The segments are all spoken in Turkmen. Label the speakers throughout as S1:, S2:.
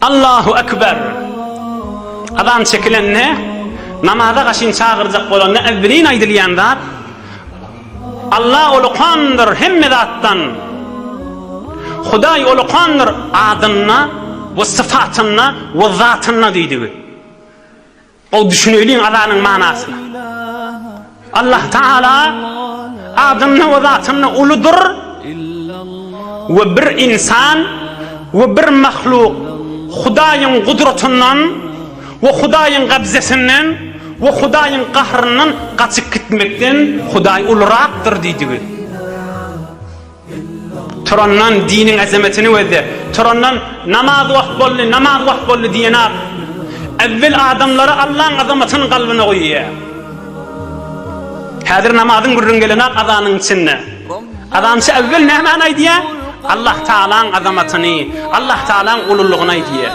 S1: Allahu ekber. Azan çekilende namaza gaşyn çagyrjak bolanda evvelin aýdylýan zat Allah ulukandyr hemme zatdan. Hudaý ulukandyr adynda we syfatynda we zatynda diýdigi. Gowy düşüneýliň azanyň manasyna. Allah Taala adynda we zatynda uludyr we bir ynsan we bir mahluk Hudaýyň gudratyndan we Hudaýyň gabzesinden we Hudaýyň gahryndan gaçyp gitmekden Hudaý ulurakdyr diýdigi. Turandan diniň azametini gözle. Turandan namaz wagt boldy, namaz wagt boldy diýenok. Äwwel adamlara Allaň azamatyny galbyna guýýar. Häzir namazyň gürrüň gelenok azanyň içinde. Azançy äwwel nämäni aýdýar? Allah Tagalaň azamatyny, Allah Tagalaň ululygyny aýdýar.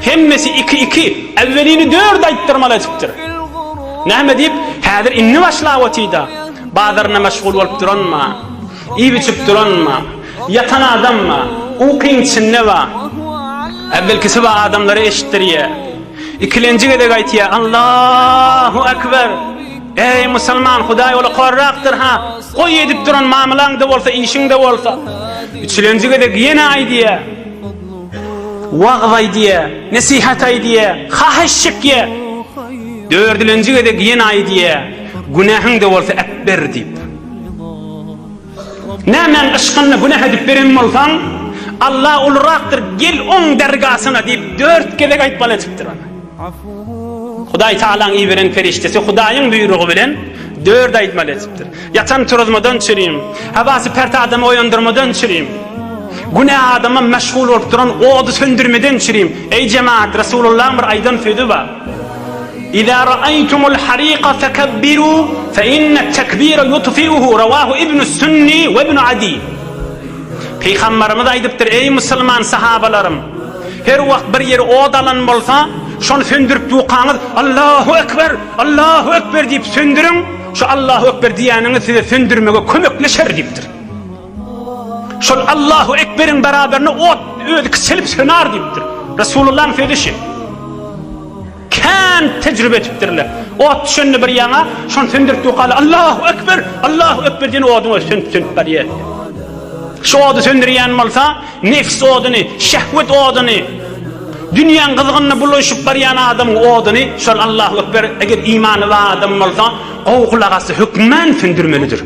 S1: Hemmesi iki-iki, äwwelini dört aýtdyrmaly edipdir. Näme diýip, häzir indi başlap otyda. Bazarynda meşgul bolup duranma. Iýip-içip duranma, ýatan adamma, ukyň içinde ba. Äwvelkisi ba adamlara eşitdirýä. Ikilenji gezek aýtýa, Allahu Ekber! Eý, musulman, Hudaý ola horrakdyr, ha! Goý, edip duran mamylaň-da bolsa, işiň-de bolsa. Üçülenji gezek ýene aýdýa. Wagyz aýdýa, nesihat aýdýa, haýyş çekýä. Dördülenji gezek ýene aýdýa, günähiň-de bolsa äpber diýip. Nämäň yşkynda günäh edip beren bolsaň, Alla ulurakdyr, gel Oň dergasyna diýip, dört gezek aýtmaly edipdir ony. Hudaý Tagalaň iberen perişdesi Hudaýyň buýrugy bilen dört aýtmaly edipdir. Ýatan turuzmadan çürim, hawasy pert adamy oýandyrmadan çürim, günä adama meşgul bolup duran ody söndürmeden çürim. Eý jemaat, Resulullahyň bir aýdan sözi bar. Iza ra'aytumul harika fekebbiru fe inne tekbire yutfi'uhu revahu ibnus sünni ve ibnu adi. Pygamberimiz aýdypdyr, eý musulman sahabalarym! Her wagt bir ýeri ot alan bolsa, şony söndürip ýukaňyz, Allahu ekber! Allahu ekber! diýip söndüriň, şu Allahu ekber diýýäniňiz size söndürmege kömekleşer diýipdir. Şol Allahu ekberiň beraberine ot özi kiçelip söner diýipdir. Resulullah'yň sözü şu. Kän tecrübe etipdirler. Ot düşende bir ýana, şony söndürip dokaly Allahu ekber, Allahu ekber diýen oduň özi sönüp sönüp barýar. Şu ody söndürýän bolsa, nefs oduny, şehwet oduny, dünýäň gyzgynyna bulaşyp barýan adamyň oduny, şol Allahu ekber, eger imany bar adam bolsa, gowy gulak asy hökmän söndürmelidir.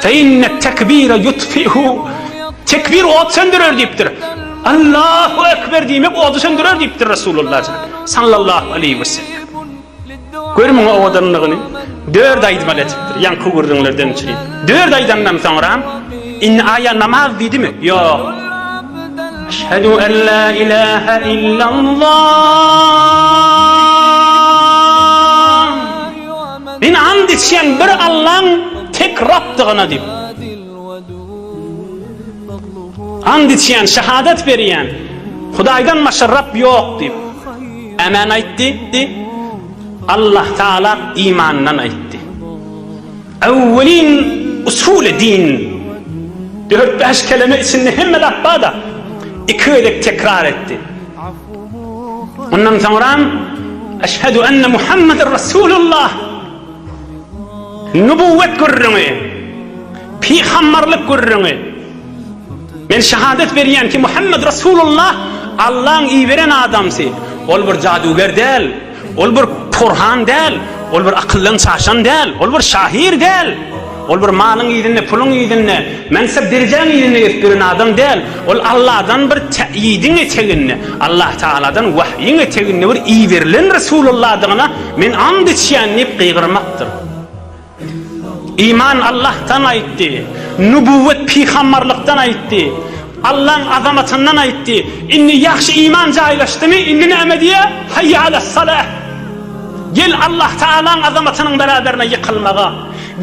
S1: Fe inne tekbire yutfihu Tekbir ot söndürer diýipdir. Allahu ekber diýmek ody söndürer diýipdir Resulullah sallallahu aleyhi ve sellem. Gör muňa owadanlygyny. Dört aýdmaly edipdir. Ýaňky gürrüňlerden üçin. Dört aýdandan soňra indi aýa namaz diýdimi? Ýok. Eşhedü en la ilahe illallah Men ant içýän bir Allaň tek Rabdygyna diýip. Ant içýän, şahadat berýän, Hudaýdan başga Rab ýok diýip. Ämen aýt diýipdi. Allah Taala imandan aýtdy. Awwelin usuly din. Dört-bäş keleme içinde hemme lap bada iki gezek tekrar etdi. Ondan soňra Eşhedü enne Muhammeden Resulullah Nübüvvet gürrüňi Peygamberlik gürrüňi Men şehadet berýän ki Muhammed Resulullah Allah'ın iberen adamsy Ol bir jaduger däl Ol bir porhan däl, ol bir akyldan çaşan däl, ol bir şahyr däl, ol bir malyň yzynda, puluň yzynda, mansap-derejäň yzynda gezip ýören adam däl, ol Alladan bir täýidiň eteginde, Allatagaladan wahýyň eteginde bir iberilen Resulalladygyna men and içýän diýip gygyrmakdyr. Iman Allahdan aýtdy. Nübüwwet pygamberlikden aýtdy. Allaň azamatyndan aýtdy. Indi ýagşy iman jaýlaşdymy, indi näme diýýä? Haýýa alas salah. Gel Allah Taalaň azamatynyň beraberine ýykylmaga.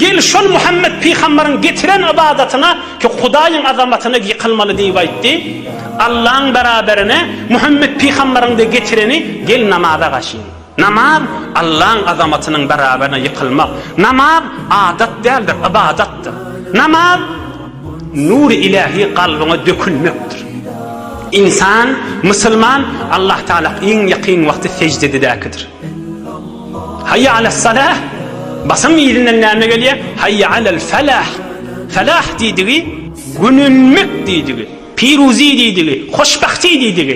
S1: Gel şol Muhammet pygamberiň getiren ybadatyna ki Hudaýyň azamatyna ýykylmaly diýip aýtdy. Allaň beraberine Muhammet pygamberiň de getireni gel namaza gaşyň. Namaz, Allaň azamatynyň beraberine ýykylmak. Namaz, adat däldir, ybadatdyr. Namaz, nury ilähi kalbyňa dökülmekdir. Ynsan, musulman, Allah Taala iň ýakyn wagty seždededäkidir. Haýýa alas salah, basyň yzyndan näme gelýär? Haýýa alal falah. Falah diýdigi, gönenmek diýdigi, piruzy diýdigi, hoşbahti diýdigi.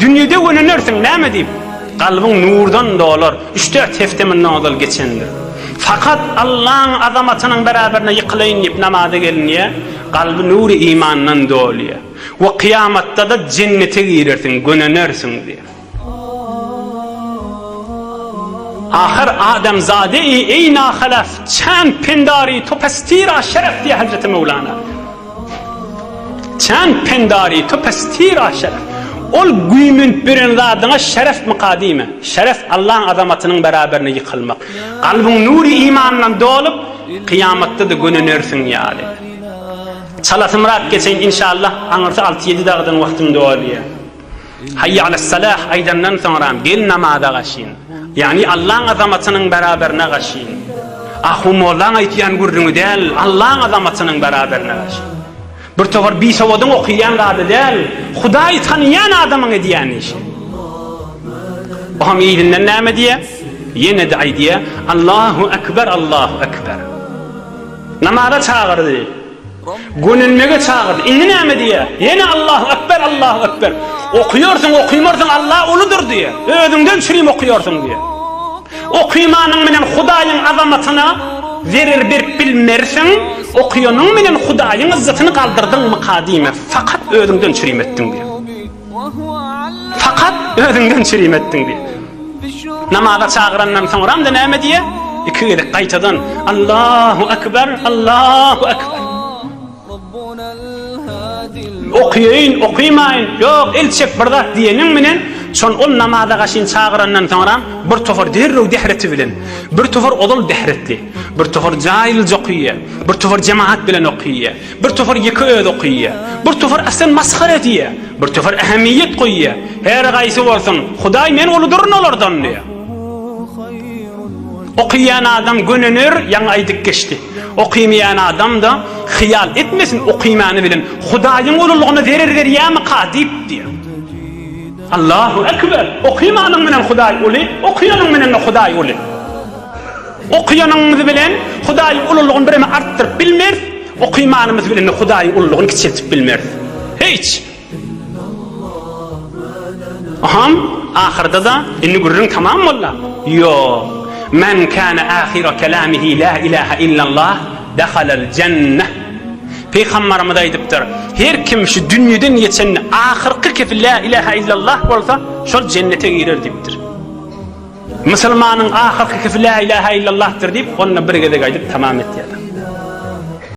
S1: Dünýede gönenirsiň, näme diýip? Kalbyň nurdan dolar, üç-dört hepde mundan ozal geçendir. Fakat Allaň azamatynyň beraberine ýykylaýyn diýip namaza gelinýär, kalby nury imandan dolýar we kyýamatda-da jennete girersiň, gönenersiň diýip. Ahyr adamzade-i eýna halaf, çand-pendar-i topastira şeref diýýär Hazreti Möwlana. Çan pendari to pestira şeref. Ol güýmenip ýören zadyňa şerefmika diýme. Şeref Allaň azamatynyň beraberine ýykylmak. Kalbyň nury imandan dolup, kyýamatda-da gönenersiň ýaly. Çalasymrak geçeýin inşallah, aňyrsy alty-ýedi dagdan wagtym dolýar. Haýýe alas-salah aýdandan soňram gel namaza gaşyn. Ýagny Allaň azamatynyň beraberine gaşyn. Ahu mollaň aýtýan gürrüňi däl, Allaň azamatynyň beraberine gaşyn. Bir towar bisowadyň okýan zady däl, Hudaýy tanaýan adamyň edýän işi. O hem yzyndan näme diýýär? Ýene-de aýdýar, Allahu ekber, Allahu ekber. Namaza çagyrdy. Gönenmege çagyrdy. Indi näme diýýär? Ýene Allahu ekber, Allahu ekber. Okuýarsyň, okuýmarsyň Alla uludyr diýýär. Özüňden çürim okuýarsyň diýýär. Okymanyň bilen Hudaýyň azamatyna zerer berip bilmersiň, okuýanyň bilen Hudaýyň yzzatyny galdyrdyňmyka diýmez. Fakat özüňden çürim etdiň diýýär. Fakat özüňden çirim etdiň diýip. Namaza çagyrandan soňram-da näme diýýär? Iki gezek gaýtadan Allahu Ekber, Allahu Ekber. Okuýaýyn, okuýmaýyn, ýok, el çek bir zat diýeniň bilen, şon ol namaza gaşyn çagyrandan soňram bir topar derrew dähreti bilen, bir topar ozal dähretli, bir topar jaýylja okuýýar, bir topar jemagat bilen okuýýar. Bir topar ýeke özi okaýýa. Bir topar aslan masgara edýä. Bir topar ähemiýet goýýa. Her gaýsy bolsun, Hudaý men uludyryn olardan diýä. Okaýan adam gönener, ýaňy aýdyp geçdi. Okaýmaýan adam-da, Hyýal etmesin, okaýmany bilen Hudaýyň ululygyna zerer berýämika diýip diýä. Allahu ekber! Okaýmanyň bilen Hudaý uly, okaýanyň bilen-de Hudaý uly. Okaýanymyz bilen Hudaýyň ululygyny birem artdyryp bilmeris, okaýmanymyz bilen-de Hudaýyň ululygyny kiçeltip bilmeris. Hiç! Hom, ahyrda-da, indi gürrüň tamam bolda? Ýok. Men kana ahyra kalamihi la ilaha illallah dahalal jannah. Pygambarymyz aýdypdyr, Her kim şu dünýeden geçende ahyrky kepi la ilaha illallah bolsa, şol jennete girer diýipdir. Musulmanyň ahyrkykysy Lä ilahe illallahdyr diýip, onda bir gezek aýdyp tamam etýär.